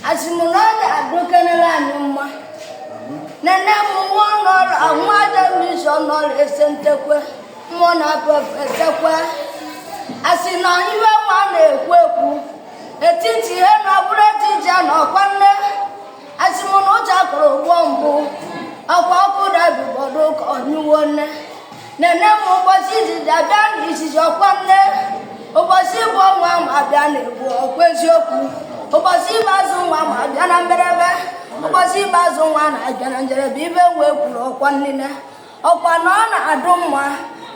asị m na ọ ga-adụkenela anyị mma nene m nwa ọnọrụ nwa adamisi ọnọrụ ese ntekwe mmụọ na esekwe asị na iwe nwa na-ekwu ekwu etiti ihe na ọbụrụ etiti a na ọkwa nine asị m na ụjọ akụrụ ụgbọ mbụ ọkwa ọkụ daa ibube ọ dụ ka ọ nyụwo nne nene m ụbọsị izizi abịa na izizi ọkwa nine ụbọsị ịbụọ nwa m abịa na ebu ọkwa eziokwu ụbọsị ikpeazụ nwa m abịa na mberebe ụbọsị ikpeazụ nwa na-abịa na njerebe ibe wee kwuru ọkwa nine ọkwa na ọ na-adụ mma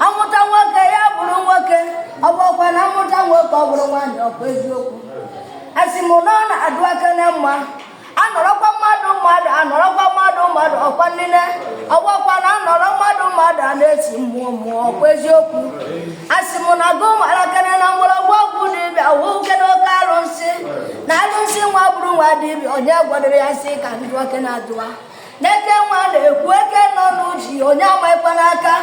amụta nwoke ya bụrụ nwoke ọ bụrọkwa na amụta nwoke ọ bụrụ nwaanyị ọkwa eziokwu asị m na ọ na-adụkene mma anọrọkwa mmadụ mmadụ anọrọkwa mmadụ mmadụ ọkwa nile ọ bụrọkwa na anọrọ mmadụ mmadụ a na-esi mmụọ mmụọ ọkwa eziokwu asị m na gụ marakene na ihe gburu oke dibịa wụkene oke arụsị na arụsị nwa gburu nwa dibịa onye gwọdoro ya nsi ka ndị nwoke na-adụwa n'eke nwa na-ekwu eke nọ n'uji onye amanyekwana aka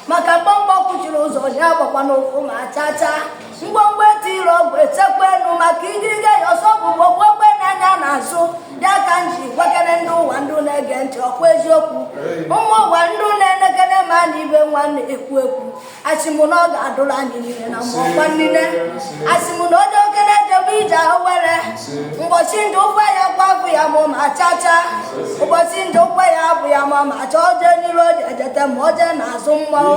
maka mgbọmgbọ kwuchiri ụzọ onye agbakwana ụkwụ ma chaa chaa mgbọmgbọ etiri ọgwụ echekwa enu maka igirigi ya ọsọ bụ gbogbo ogbe n'anya n'azụ ya ka m ji gwakere ndị ụwa ndị na-ege ntị ọkwa eziokwu ụmụ ụwa ndị na-enekere m anya ibe nwa na-ekwu ekwu asị m na ọ ga-adụrụ anyị niile na mma ọkwa niile asị m na onye okenye ejebe ije awere ụbọsị ndị ụkwụ ya gwa bụ ya ma ma chacha ụbọsị ndị ụkwụ ya bụ ya ma ma cha oje n'iru oje ejete ma oje n'azụ mmanwụ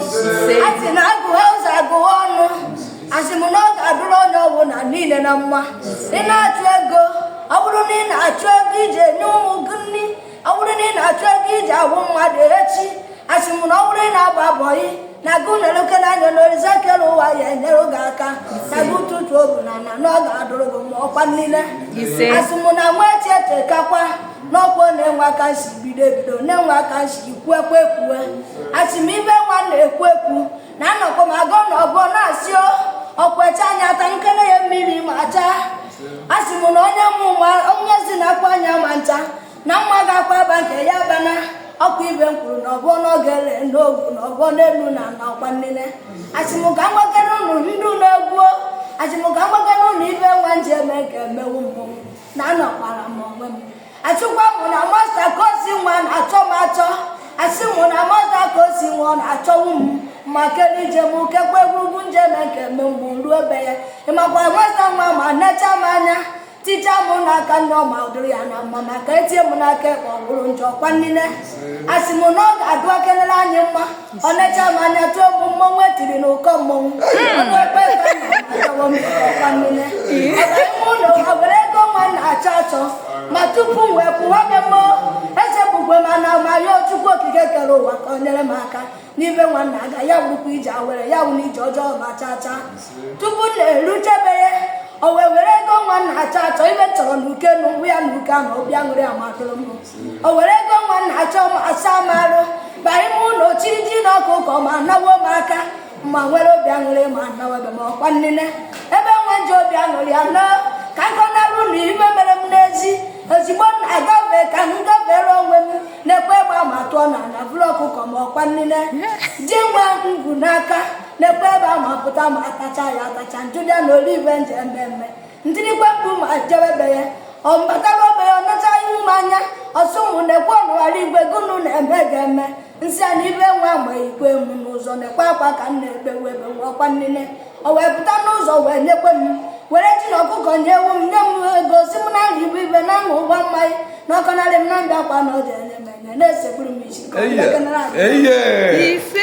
asị na agụghị ụzọ agụghị ọnụ asị m na ọ ga-adụrụ onye ọwụna niile na mma ị na-achụ ego ọ bụrụ na ị na-achụ ego iji nye ụmụ gị nri ọ bụrụ na ị na-achụ ego iji abụ mmadụ echi asị m na ọ bụrụ ị na-agba bọyị na gụ na-elekene anya na orisa kere ụwa ya-enyere gị aka na gị ụtụtụ ọbụna na na ọ ga-adụrụ gị mma ọkwa niile asị m na nwa echi echekakwa n'ọkwa na e nwe ka m si bido ebido na e nwe ka m si kwuekwa ekwue asị m ibe nwa na-ekwu ekwu na anọkwa m agụ na ọgụ na-asị ọkwecha anya ata nkele ya mmiri ma acha a sị m na onye mụ onye si na akwa anya ma ncha na mma ga-akwa aba nke ya bana ọkwa ibe m kwuru na ọbụ n'oge ele n'ogwu na ọbụ n'elu na na ọkwa nine asị m ka m gwakene ụnụ ihe dụ n'egwu o asị m ka m gwakene ụnụ ibe nwa nji eme ka emewu mmụọ na anọkwara m onwe m asịkwa m na masta ka o si nwa na-achọ m achọ asị m na masta ka o si nwa ọ na-achọwu m ma kere ije m kekwa egwurugwu nje na nke mme mgbe m ruo ebe ya ịmakwa masta nwa ma necha m anya tija m n'aka nri ọma ọ dụrụ ya na mma maka etie m n'aka ekpe ọ bụrụ njọ ọkwa nile asị m na ọ ga-adụkenela anyị mma ọ necha m anya tụọ m mmọnwụ e tiri n'ụkọ mmọnwụ ụlọ ha were ego nwa na-achọ achọ ma tupu m wee kwụwa be mmụọ echebukwe m na ma ya chukwu okike kere ụwa ka o nyere m aka n'ibe nwa na-aga ya wụrụkwa ije awere ya wụ n'ije ọjọọ ma chaa chaa tupu m na-eruchebe ya o wee were ego nwa na-achọ achọ ibe chọrọ na uke na ụgwụ ya na uke ahụ obi aṅụrị amatụrụ m o were ego nwa na-achọ m asa m arụ baa ime ụlọ chịrị ji na ọkụkọ ma nawo m aka ma were obi aṅụrị ma nawebe m ọkwa nnine ebe nwa ji obi aṅụrị ya nọ ka m kọnarụ unu ihe mere m n'ezi ozigbo m na-agafe ka m gafere onwe m na-ekwe ịgba ma tụọ na na bụrụ ọkụkọ ma ọkwa nnine ji nwa ngwu n'aka na-ekwe ebe a ma pụta ma atacha ya atacha njụlịa na olive nje mmemme ntirikwe mkpu ma jebe be ya ọ bataba be ya ọ nacha ihu m anya ọ sị mụ na-ekwe ọnụghara igwe gụnụ na-eme gị eme m sị ya na ibe nwa ma ikwe m n'ụzọ na-ekwe akwa ka m na-ekpe webe nwa ọkwa nnine o wee pụta n'ụzọ wee nyekwe m were ji na ọkụkọ nye ewu m nye m ego sị m na nri ibu ibe na aṅụ ụgbọ mmanya na ọkọnarị m na ndị akwa na ọ dị enye m enye na-esegburu m isi ka ọ dị Eye. ekenere anyị. Eye. Ise.